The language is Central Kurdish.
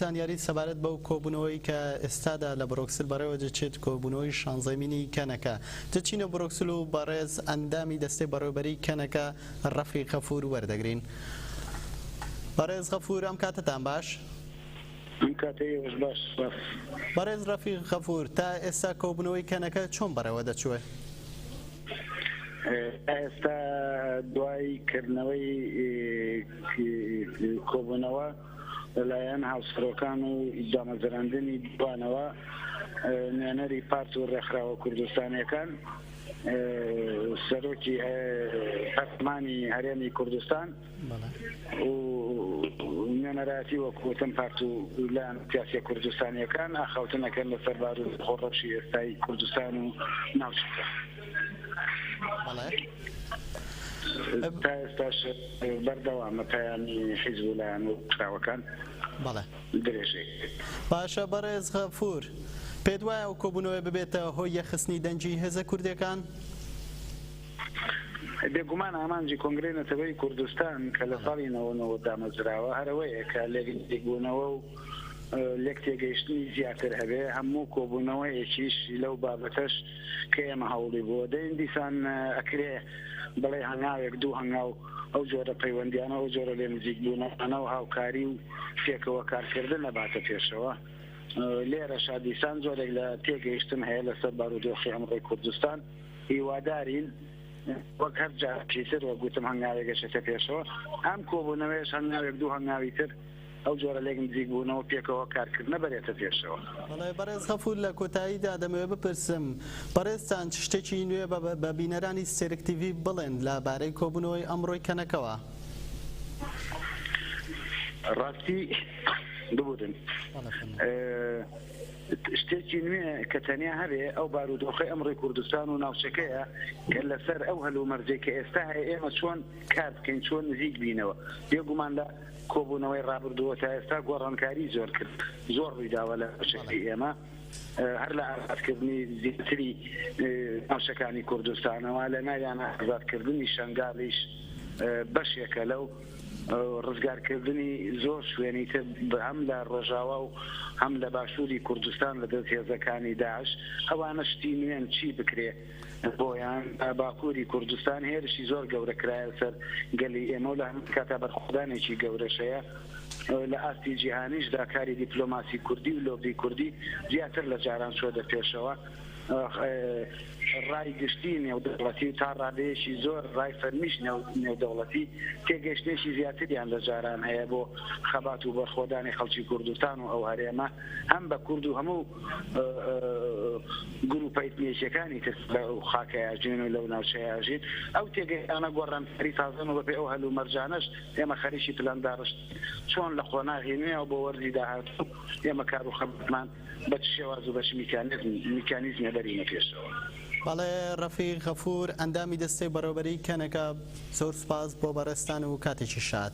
زانیاریت سەبارەت بەو کۆبوونەوەی کە ئێستادا لە برۆکسل بەڕێوە دەچێت، کۆبوونەوەی شانزەمینی کەنەکە تچینۆ برۆکسل و بەڕێز ئەندامی دەستەی بەڕێوەبەریی کەنەکە ڕەفیق غەفوور وەردەگرین. بەڕێز غەفوور ئەم کاتەتان باش؟ ئەم کاتەی ئێوەش باش، سپاس. بەڕێز ڕەفیق غەفوور، تا ئێستا کۆبوونەوەی کەنەکە چۆن بەڕێوە دەچووێ؟ تا ئێستا دوای کردنەوەی کۆبوونەوە، لەلایەن هاوسەرۆکان و دامەزراندنی دووانەوە نوێنەری پارت و ڕێکخراوە کوردستانیەکان سەرۆکی هەرمانی هەرێمی کوردستان و نوێنەراتی وەکوتم پارت و لەلایەن سیاسە کوردستانیەکان ئاخاوتنەکەن لەسەر بار و خۆڕەشی ئێستای کوردستان و ناوچەکە. بەڵێ. تا ئێستاش بەردەوامە پەیامی حیزب و لایەن و ڕێکخراوەکان بەڵێ. درێژەی باشە بەڕێز غەفوور، پێت وایە ئەو کۆبوونەوەیە ببێتە هۆی یەخستنی دەنگی هێزە کوردییەکان؟ بێگومان ئامانجی کۆنگرەی نەتەوەیی کوردستان کە لە ساڵی نەوەد و نۆ دامەزراوە هەر ئەوەیە کە لێکبوونەوە و لێک تێگەیشتنی زیاتر هەبێ، هەموو کۆبوونەوەیەکیش لەو بابەتەش کە ئێمە هەوڵی بۆ دەین دیسان ئەکرێ بڵێ هەنگاوێک دوو هەنگاو ئەو جۆرە پەیوەندیانە ئەو جۆرە لێ نزیک بوونەوە و هاوکاری و پێکەوە کارکردن نەباتە پێشەوە لێرە شادیسان جۆرێک لە تێگەیشتن هەیە لەسەر بارودۆخی ئەمڕۆی کوردستان هیوادارین وەک هەر جاکیتر وە گوتم هەنگاوێک گەشتە پێشەوە ئەم کۆبوونەوەیش هەنگاوێک دوو هەنگاوی تر ئەو جۆرە لێک نزیک بوونەوە پێکەوە کارکردنە بەرێتە پێشەوە. بەڵێ بەڕێز غەفور لە کۆتاییدا دەمەوێ بپرسم بەڕێزتان چ شتێکی نوێ بە بینەرانی سێرک تیڤی بڵێن لە بارەی کۆبوونەوەی ئەمڕۆی کەنەکەوە؟ ڕاستی ببورن شتێکی نوێ کە تەنیا هەبێ ئەو بارودۆخی ئەمڕی کوردستان و ناوچەکەیە کە لەسەر ئەو هەلومەرجێک کە ئێستا هەیە ئێمە چۆن کار بکەین چۆن نزیک بینەوە بێگومان لە کۆبوونەوەی ڕابردووە تا ئێستا گۆڕانکاری زۆر کرد زۆر ڕوویداوە لە ناوچەکەی ئێمە هەر لە ئازادکردنی زیاتری ناوچەکانی کوردستانەوە لە ناویان ئازادکردنی شنگالیش بەشێکە لەو ڕزگارکردنی زۆر شوێنی تر هەم لە ڕۆژاوا و هەم لە باشووری کوردستان لە دەست هێزەکانی داعش ئەوانە شتی نوێن چی بکرێ بۆیان لە باکووری کوردستان هێرشی زۆر گەورە کرایە سەر گەلی ئێمە و لە هەمان کاتدا بەرخۆدانێکی گەورەش هەیە. لە ئاستی جیهانیشدا کاری دیپلۆماسی کوردی و لۆبی کوردی زیاتر لە جاران چۆتە پێشەوە. رای گشتی نێودەوڵەتی و تا رادەیەکی زۆر رای فەرمیش نێودەوڵەتی تێگەیشتنێکی زیاتریان لە جاران هەیە بۆ خەبات و بەرخۆدانی خەڵکی کوردستان و ئەو هەرێمە هەم بە کورد و هەموو گروپە ئیتنیکیەکانی تر لەو خاکەی ئاژین و لەو ناوچەی ئاژین ئەو تێگەیشتانە گۆڕانکاری تازەن و بەپێی ئەو هەلومەرجانەش ئێمە خەریکی پلان داڕشت چۆن لە قۆناغی نوێ بۆ وەرزی داهاتوو ئێمە کار و خەباتمان بە چ شێواز و بە چ میکانیزمێ بەرینە پێشەوە. بەڵێ ڕەفیق غەفور ئەندامی دەستەی بەڕێوەبەریی کەنەکە، زۆر سوپاس بۆ بەڕێزتان و کاتێکی شاد.